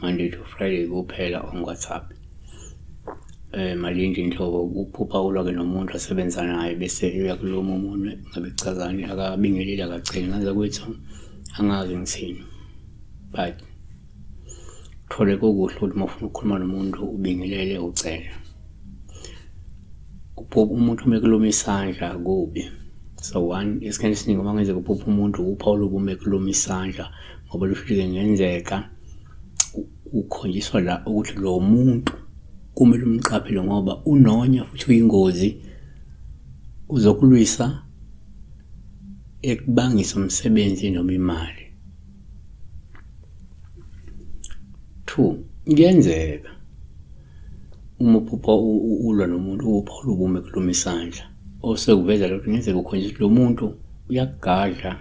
Monday to Friday kuphela on WhatsApp. Eh malindi nhlobo ukuphupha ulwa ke nomuntu asebenza naye bese uyakuluma umunwe ngabe kuchazani akabingeleli akacheli ngaze kuthi angazi ngithini. But thole kokuhle ukuthi uma ufuna ukukhuluma nomuntu ubingelele ucela. Ukuphupha umuntu uma ekuluma isandla kubi. So one esikhathini esiningi uma ngenzeka uphupha umuntu uphawu lokume kuluma isandla ngoba lufike ngenzeka Ukhonjiswa la ukuthi lo muntu kumele umqaphele ngoba unonya futhi uyingozi. Uzokulwisa ekubangise umsebenzi noma imali. Two, kuyenzeka uma uphupha ulwa nomuntu uphawule ubume kulume isandla. osekuveza lokho ngenzeka ukhonjiswa ukuthi lo muntu uyakugadla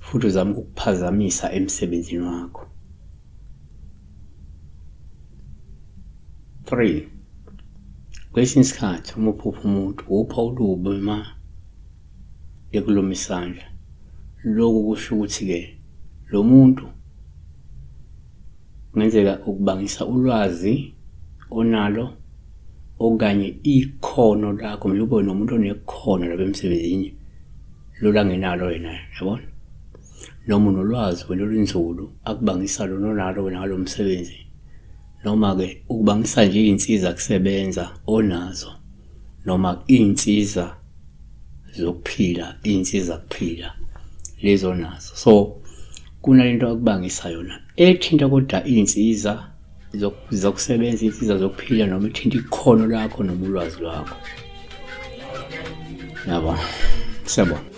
futhi uzama ukukuphazamisa emsebenzini wakho three kwesinye isikhathi uma uphupha umuntu upha ulubi uma ekuluma isandla loku kusho ukuthi-ke lo muntu Kungenzeka ukubangisa ulwazi onalo okanye ikhono lakho mele ube nomuntu onekhono lapha emsebenzini lolu angenalo wena yabona noma unolwazi wena olunzulu akubangisa lona onalo wena ngalo msebenzi noma-ke ukubangisa nje iy'nsiza kusebenza onazo noma iy'nsiza zokuphila iy'nsiza kuphila lezo nazo so kunalento akubangisa yona ethinta kodwa iy'nsiza zokusebenza iy'nsiza zokuphila noma ethinta ikhono lakho noma ulwazi lwakho yabo siyabona